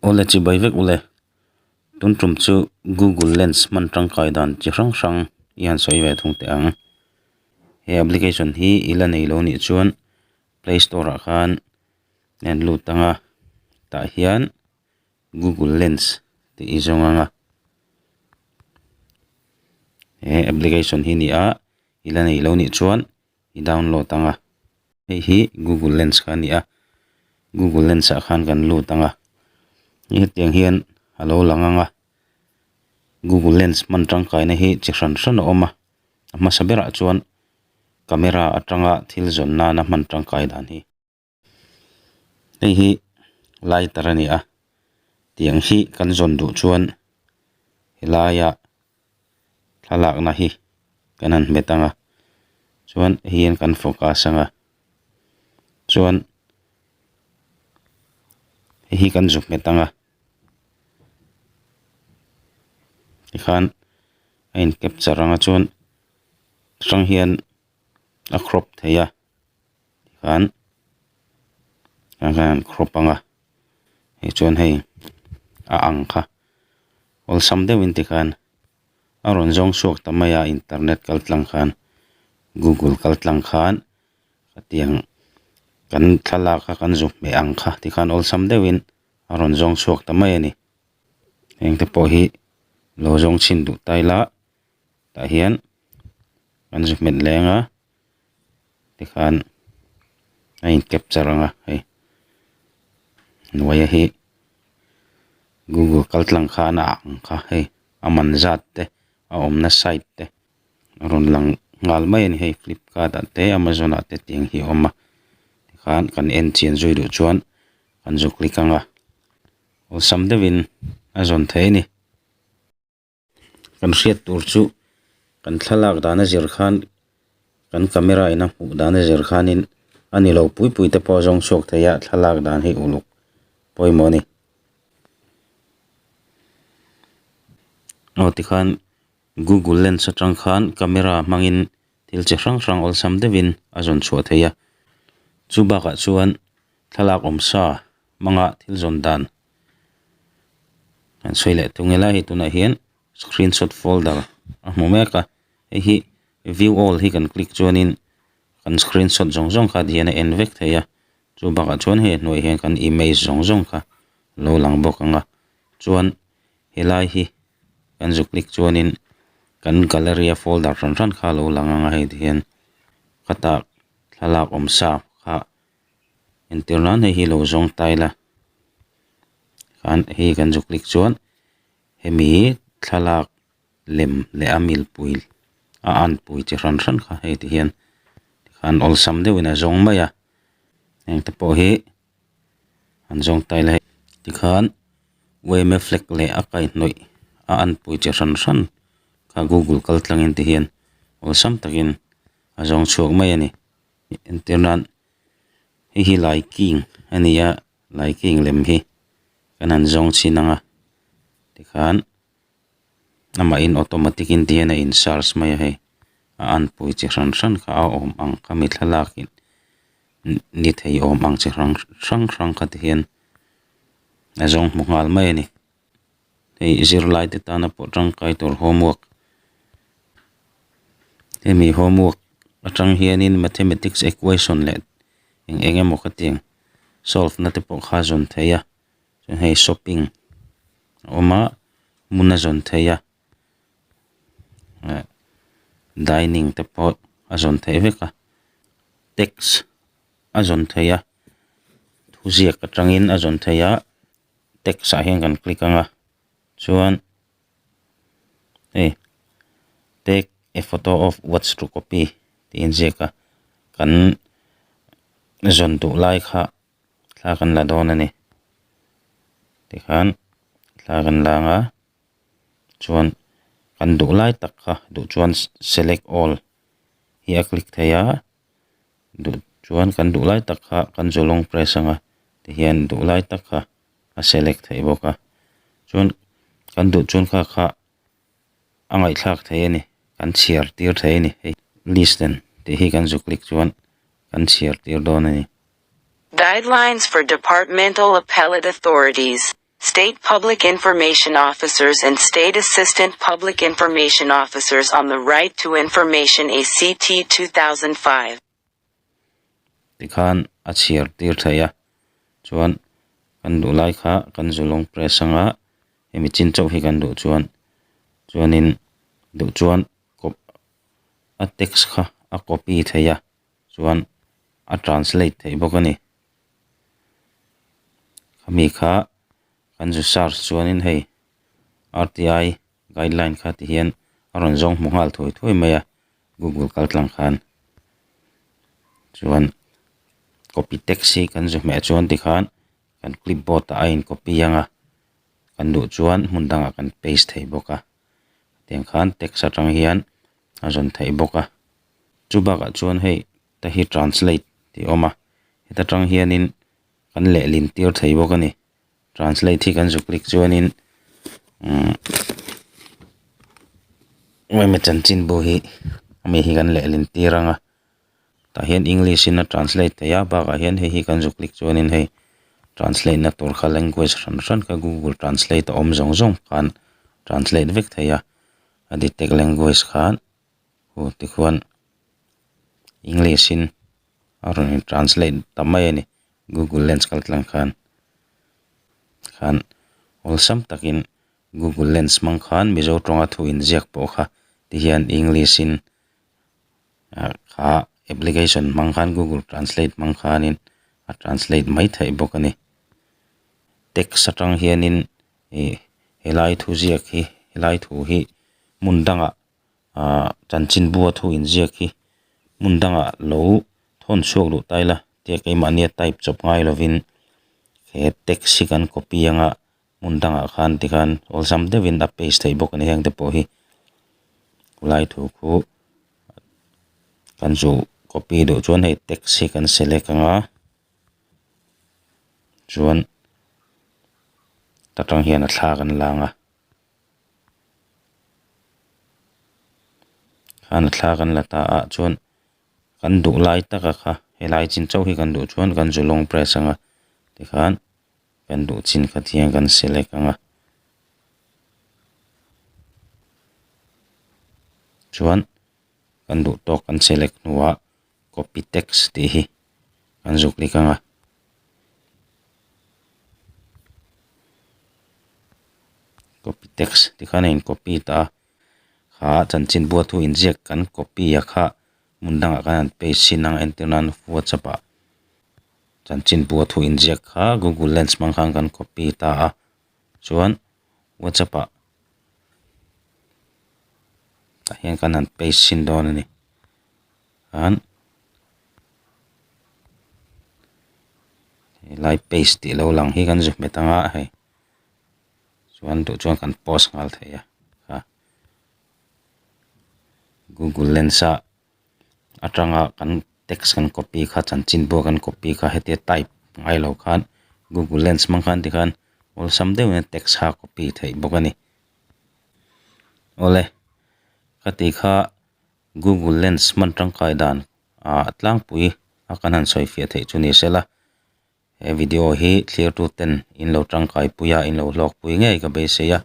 Ule chi bai vek ule. Tun tum chu Google Lens hman tangkai dan chi hrang hrang i han sawi ve thung teh ang. He application hi i la nei lo nih chuan Play Store ah khan a han lut ang a, tah hian Google Lens tih i zawng ang a. He application hi nia i la nei lo nih chuan-- i download ang a, hei hi Google Lens kha a ni a, Google Lens ah khan kan lut ang a, hetiang hian a lo lang ang a, Google Lens hman tangkaina hi chi hran hran a awm a, a hmasa berah chuan camera atanga thil zawn nana hman tangkai dan hi. Hei hi lighter a ni a tiang hi kan zawn duh chuan he laia thlalakna hi kan han hmet ang a chuan hei hian kan focus ang a chuan hei hi kan zu hmet ang a tikhan a in capture ang a chuan chi hrang hian a crop theih a. khan ah hian khaw panga hei chuan hei a ang kha awlsam deuh in ti khan a rawn zawng chhuak ta mai a internet kal tlang khan google kal tlang khan hetiang kan thlalak a kan zuk hmeh ang kha ti khan awlsam deuh in a rawn zawng chhuak ta mai a ni heng te pawh hi lo zawng chhin duh tai la. tah hian an zi hmet leng a tikhan a in capture ang a hei hnuaia hi google kal tlang kha an ah ang kha hei a man zat te a awmna site te a rawn lang nghal mai a ni hei flipkart ah te amazon ah te tih ang hi a awm a tikhan kan en chin zui duh chuan kan zu click ang a awlsam deuhin a zawn theih a ni. kan hriat tur chu kan thlalak dana zir khan kan camera in a hmuh dana zir khanin a ni lo pui pui te pawh a zawng chhuak theih a thlalak dan hi uluk pawimawh a ni aw tikhan Google lens atang khan camera hmangin thil chi hrang hrang awlsam deuhin a zawn chhuah theih a chu bakah chuan thlalak awm sa hmanga thil zawn dan. kan sawi leh thung ila hei tunah hian screen shot folder a hmu mek a hei hi view all hi kan click chuanin kan screen shot zawng zawng khat hian a en vek thei a chu bakah chuan hei a hnuai ah hian kan image zawng zawng kha a lo lang bawk ang a chuan helai hi kan zuk click chuanin kan gallery a folder hran hran kha a lo lang ang a hei ti hian khata thlalak awm sa kha-- entir nan hei hi lo zawng ta ila an hei hi kan zuk hlik chuan hemi thlalak lem leh a mil pui a an pui chi hran hran kha hei ti hian tikhan awlsam deuhin a zawng mai a heng te pawh hi an zawng ta ila tikhan yma flag leh a kaihnawih a an pui chi hran hran kha google kal tlangin ti hian awlsam takin a zawng chhuak mai a ni. entir nan hei hi lai king a ni a lai king lem hi kan han zawng chhin ang a tikhan amah in automatic in a in charge mai a hei a an pui chi hran hran kha a awm ang kha mi thlalak in ni thei awm ang chi hrang hrang kha ti hian a zawng hmu nghal mai a ni. hei zirlai te tana pawh tangkai tur homework hemi homework atang hianin mathematics equation leh eng eng emaw ka tiang solve na te pawh kha a zawn thei a chuan hei shopping a awm a hmun a zawn thei a dining te pawh a zawn theih vek a tax a zawn thei a thuziak atangin a zawn thei a. text ah hian kan click anga chuan hei take a photo of what's to copy tih inziak a kan zawn duh lai kha thla kan la dawn a ni tikhan thla kan la anga chuan kan duh lai tak kha duh chuan select all hi a click theih a. duh chuan kan duh lai tak kha kan zalong press anga tihian duh lai tak kha a select theih bawk a chuan kan duh chuan kha kha a ngaihthlak thei a ni kan chhiar tir thei a ni hei listen tih hi kan zu click chuan kan chhiar tir dawn a ni. Guidelines for Departmental Appellate Authorities. State Public Information Officers and State Assistant Public Information Officers on the Right to Information, ACT, 2005. Ti khan a chhiar tir thei a, chuan kan duh lai kha kan Zulawngs Press anga hemi chin chauh hi kan duh chuan, chuanin duh chuan kawp a text kha a copy thei a. chuan a translate theih bawk a ni khami kha kan research chuanin hei rti guideline kha ti hian a rawn zawng hmu nghal thuai thuai mai a google kaltlang khan chuan copy text hi kan ze hmeh chuan ti khan kan clip board ah a in copy ang a kan duh chuan hmun dangah kan paste thei bawk a tiang khan text atang hian-- a rawn theih bawk a, chu bakah chuan hei ta hi translate tih awm a, heta tang hianin kan lehlintir thei bawk a ni, translate hi kan zu click chuanin umm Ram Chanchinbu hi ami hi kan lehlintir ang a, tah hian English in a translate theih a, bakah hian hei hi kan zu click chuanin hei translate na tur kha language hran hran kha Google translate a awm zawng zawng khan translate vek thei a. a detect language khan hur te khuan english in a rawn in translate ta mai a ni google lens kal tlang khan khan awlsam takin google lens hmang khan mizo tawnga thu inziak pawh kha ti hian english in ah kha application hmang khan google translate hmang khanin a translate mai theih bawk a ni text atang hianin. ih helai thu ziak hi helai thu hi hmun danga ah chanchinbu a thu in ziak hi hmun danga lo thawn chhuak duh ta ila tia keimahni a type chawp ngai lovin he text hi kan copy anga hmun dangah khan tikhan awlsam deuhin a paste theih bawk a ni hengte pawh hi khulai thu khu kan zu copy duh chuan hei text hi kan select anga. chuan ta tang hian a thlak an lang a khana thlak an la ta ah chuan kan duh lai taka kha helai chin chauh hi kan duh chuan kan zalawng press anga tikhan kan duh chin kha ti hian kan select anga chuan kan duh tawk kan select hnuah-- Copytex tih hi kan zuk dik anga Copytex tih khan a in copy ta a kha chanchin buathu inziak kan copy a kha hmun dangah khan an paste chin ang entir nan whatsapp ah chanchin buathu inziak kha google lens hmang khan kan copy ta a. chuan whatsapp ah tah hian kan han paste sin dawn a ni chuan helai paste tih lo lang hi kan zui hmet ang a hei chuan duh chuan kan post nghal thei a google lens a. atanga kan text kan copy kha chanchin pawh kan copy kha hete type ngai lo khan google lens hmang khan ti khan awlsam deuh in text kha copy theih bawk a ni awle ka ti kha google lens hman tangkai dan ah tlangpui a kan han sawifiah theih chu ni sela he video hi thlir tu ten in lo tangkai pui a in lo hlawkpui ngei ka beisei a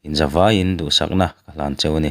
inzavaiin duhsakna ka hlan cheu a ni.